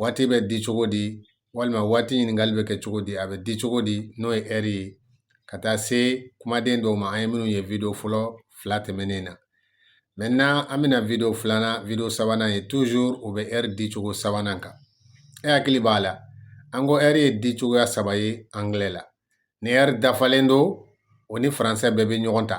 waati bɛ di cogo di walima waati ɲininkali bɛ kɛ cogo di a bɛ di cogo di n'o ye ɛri ye ka taa se kumaden dɔw ma an ye minnu ye video fɔlɔ fila tɛmɛnen na maintenant an bɛna video filanan video sabanan ye toujours o bɛ ɛri di cogo sabanan kan e hakili b'a la an ko ɛri ye di cogoya saba ye angilɛ la ni ɛri dafalen don o ni faransɛ bɛɛ bɛ ɲɔgɔn ta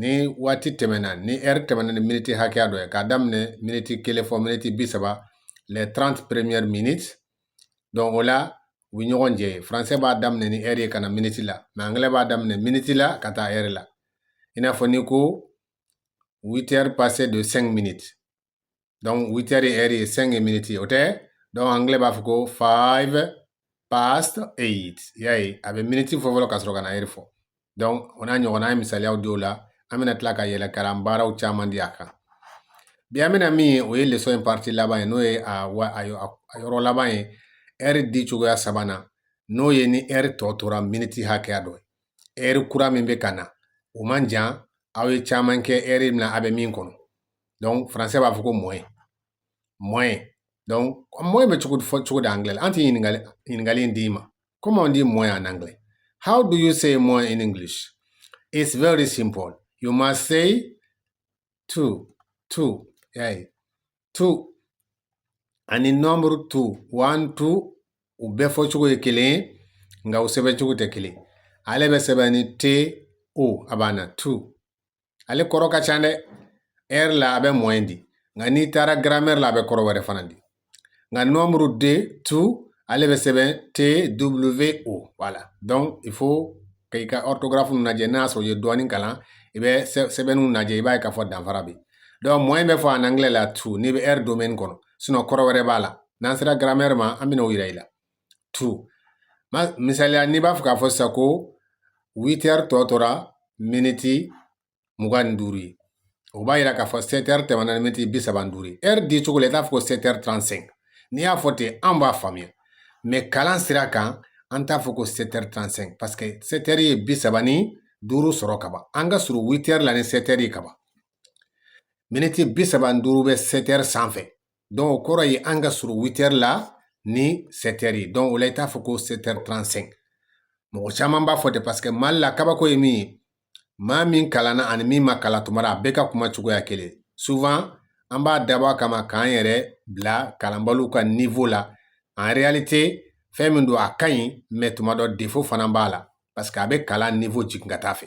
ni waati tɛmɛna ni ɛri tɛmɛna ni miniti hakɛya dɔ ye k'a daminɛ miniti kelen fɔ miniti bi saba les 30 premières minutes donc o la u bɛ ɲɔgɔn jɛ faransɛ b'a daminɛ ni ɛri ye ka na miniti la mais angilɛ b'a daminɛ miniti la ka taa ɛri la i n'a fɔ n'i ko 8 heures passées de 5 minutes donc 8 heures et cinq minutes ye o tɛ donc anglais b'a fɔ ko five past eight y'a ye a bɛ miniti fɔ fɔlɔ ka sɔrɔ ka na ɛri fɔ donc o n'a ɲɔgɔnna an ye misaliyaw di o la an bɛna tila ka yɛlɛ kalan baaraw caman di a kan bi an bɛna min ye o ye leçon in partie laban ye n'o ye a wa a yɔrɔ laban ye ɛri di cogoya sabanan n'o ye ni ɛri tɔ tora miniti hakɛya dɔ ye ɛri kura min bɛ ka na o man jan aw ye caman kɛ ɛri min na a bɛ min kɔnɔ donc français b'a fɔ ko moins moins donc moins bɛ fɔ cogo di anglais la an tɛ ɲininkali in d'i ma comment on dit moins en anglais how do you say moins in english it's very simple you must say to to yeah, to ani nombre two one two u bɛɛ fɔ cogo ye kelen ye nka u sɛbɛn cogo tɛ kelen ale bɛ sɛbɛn ni t o a banna to ale kɔrɔ ka ca dɛ ɛri la a bɛ moins di nka n'i taara garamɛri la a bɛ kɔrɔ wɛrɛ fana di nka nombre deux two ale bɛ sɛbɛn t w o voilà donc il faut que i ka ɔrtogarafu lajɛ n'a sɔrɔ i ye dɔɔnin kalan i bɛ sɛbɛnniw lajɛ i b'a ye k'a fɔ danfara bɛ donc moins bɛ fɔ en anglais la to n'i bɛ ɛri domɛni kɔnɔ sinon kɔrɔ wɛrɛ b'a la n'an sera garamɛri ma an bɛna o yira i la to misaliya n'i b'a fɛ k'a fɔ sisan ko witɛri tɔ tora miniti mugan ni duuru ye o b'a yira k'a fɔ sɛtɛri tɛmɛna ni miniti bi saba ni duuru ye ɛri di cogo la i t'a fɔ ko sɛtɛri trente-cinq n'i y'a fɔ ten an b'a faamuya mais kalan sira kan an t'a fɔ ko sɛtɛri trente-cinq parce que sɛtɛri ye bi saba ni duuru sɔrɔ ka ban an ka surun witɛri la ni sɛtɛri ye ka ban miniti bi saba ni duuru bɛ sɛtɛri sanfɛ donc o kɔrɔ ye an ka surun witɛri la ni sɛtɛri ye donc o la i t'a fɔ ko sɛtɛri trente-cinq mɔgɔ caman b'a fɔ ten parce que mali la kabako ye min ye maa min kalanna ani min ma kalan tuma dɔ la a bɛɛ ka kuma cogoya kelen souvent an b'a dabɔ a kama k'an yɛrɛ bila kalanbaliw ka niveau la en réalité fɛn min don a ka ɲi mais tuma dɔ défaut fana b'a la parce que a bɛ kalan niveau jigin ka taa fɛ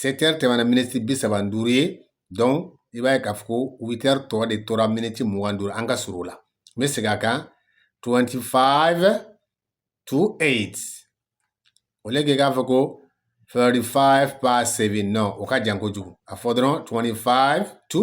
sɛtɛri tɛmɛna miniti bi saba ni duuru ye donc i b'a ye k'a fɔ ko witɛri tɔ de tora miniti mugan ni duuru an ka surun la n bɛ segin a kan 25 to 8 au lieu k'i k'a fɔ ko 35 past 7 non o ka jan kojugu a fɔ dɔrɔn 25 to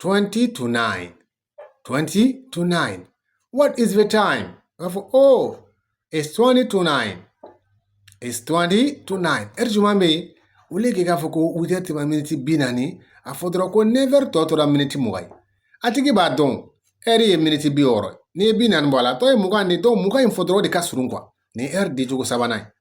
20 to 9 20 to 9 what is the time i b'a fɔ oh it's 20 to 9 it's 20 to 9 ɛri jumɛn bɛ yen au lieu k'i k'a fɔ ko witɛri tɛmɛna miniti bi naani a fɔ dɔrɔn ko nɛvɛri tɔ tora miniti mugan ye a tigi b'a dɔn ɛri ye miniti bi wɔɔrɔ n'i ye bi naani bɔ a la tɔ ye mugan de donc mugan in fɔ dɔrɔn o de ka surun quoi nin ɛri di cogo sabanan ye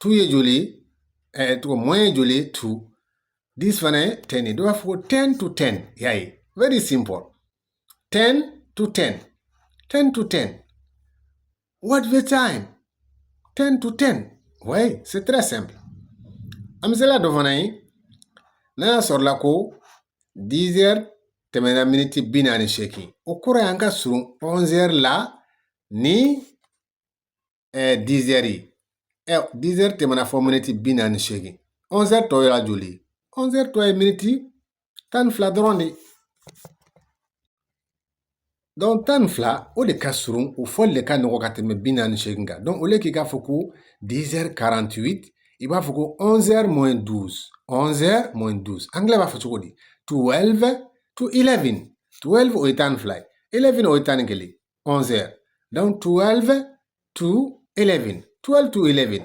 to ye joli ɛɛ eh, tɔgɔ moins ye joli to dix fana ye ten ye donc i b'a fɔ ko ten to ten y'a ye very simple ten to ten ten to ten what the time ten to ten oui c'est très simple a misali dɔ fana ye n'a y'a sɔrɔla ko dix heures tɛmɛna miniti bi naani seegin o kɔrɔ y'an ka surun onze heures la ni dizɛri ɛ dizɛri tɛmɛna fo miniti bi naani seegin ɔnzɛri tɔ yɛrɛ joli ɔnzɛri tɔ ye miniti tan ni fila dɔrɔn de donc tan ni fila o de ka surun o fɔli de ka nɔgɔ ka tɛmɛ bi naani seegin kan donc au lieu k'i k'a fɔ ko 10 48 i b'a fɔ ko 11 moins 12 11 moins 12 angilɛ b'a fɔ cogo di 12 to 11 12 o ye tan ni fila ye 11 o ye tan ni kelen 11 heures. Donc 12 to 11. 12 to 11.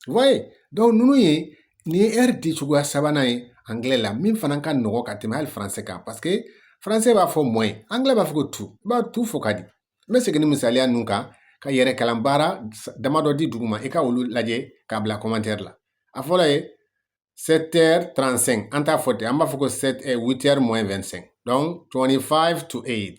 Vous voyez Donc ninnu ye nin ye heure di cogoya sabanan ye anglais la min fana ka nɔgɔ ka tɛmɛ hali français kan parce que français b'a fɔ moins anglais b'a fɔ ko to i b'a to fɔ ka di n bɛ segin ni misaliya ninnu kan ka yɛrɛ kalan baara damadɔ di duguma i ka olu lajɛ k'a bila commentaire la a fɔlɔ ye 7h35 an t'a fɔ ten an b'a fɔ ko 7 8h moins 25 donc 25 to 8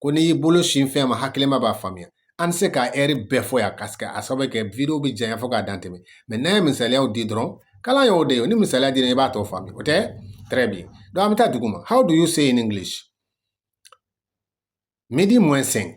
ko n'i y'i bolo sin fɛn ma hakilima b'a faamuya an tɛ se ka ɛri bɛɛ fɔ yan parce que a sababu kɛ video bɛ janya fo k'a dan tɛmɛ mais n'an ye misaliyaw di dɔrɔn kalan y'o de ye ni misaliya dira i b'a tɔ faamuya o tɛ très bien donc an bɛ taa duguma how do you say in english midi moins 5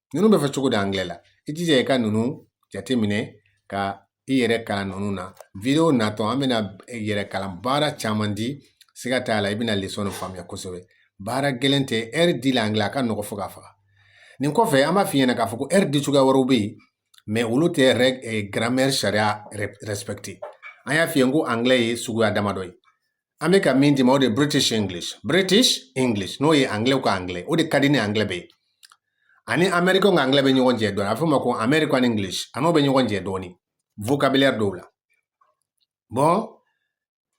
ninnu bɛ fɔ cogo di angilɛ la i jija i ka ninnu jateminɛ ka i yɛrɛ kalan ninnu na wideyo natɔ an bɛna yɛrɛ kalan baara caman di siga t'a la i bɛna lesɔn de faamuya kosɛbɛ baara gɛlɛn tɛ ɛri di la angilɛ a ka nɔgɔ fo ka faga nin kɔfɛ an b'a f'i ɲɛna k'a fɔ ko ɛri di cogoya wɛrɛw bɛ yen mɛ olu tɛ gramɛri sariya respɛkite an y'a f'i ye ko angilɛ ye suguya damadɔ ye an bɛ ka min d'i ma o de British English British English n'o ye anglais ko anglais o de ka di ni anglais bɛɛ ye ani American ka anglais bɛ ɲɔgɔn jɛ dɔɔni a bɛ f'o ma ko American English a n'o bɛ ɲɔgɔn jɛ dɔɔni vocabulaire dɔw la bon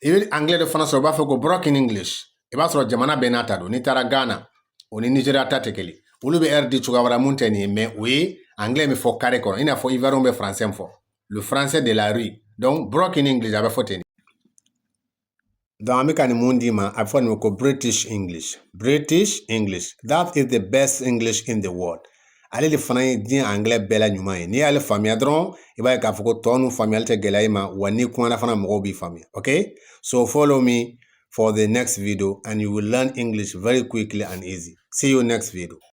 i bɛ anglais de fana sɔrɔ u b'a fɔ ko broken English i b'a sɔrɔ jamana bɛɛ n'a ta don n'i taara Ghana o ni Nigeria ta tɛ kelen olu bɛ a di cogoya wɛrɛ mun tɛ nin ye mais o ye anglais bɛ fɔ carré kɔnɔ i n'a fɔ Ivoiriens bɛ français fɔ le français de la rue donc broken English a bɛ fɔ ten de. an bɛ ka nin mun d'i ma a bɛ fɔ nin ma ko British English British English that is the best English in the world ale de fana ye diɲɛ anglais bɛɛ la ɲuman ye n'i y'ale faamuya dɔrɔn i b'a ye k'a fɔ ko tɔ ninnu faamuyali tɛ gɛlɛya i ma wa n'i kumana fana mɔgɔw b'i faamuya okay so follow me for the next video and you will learn English very quickly and easy see you next video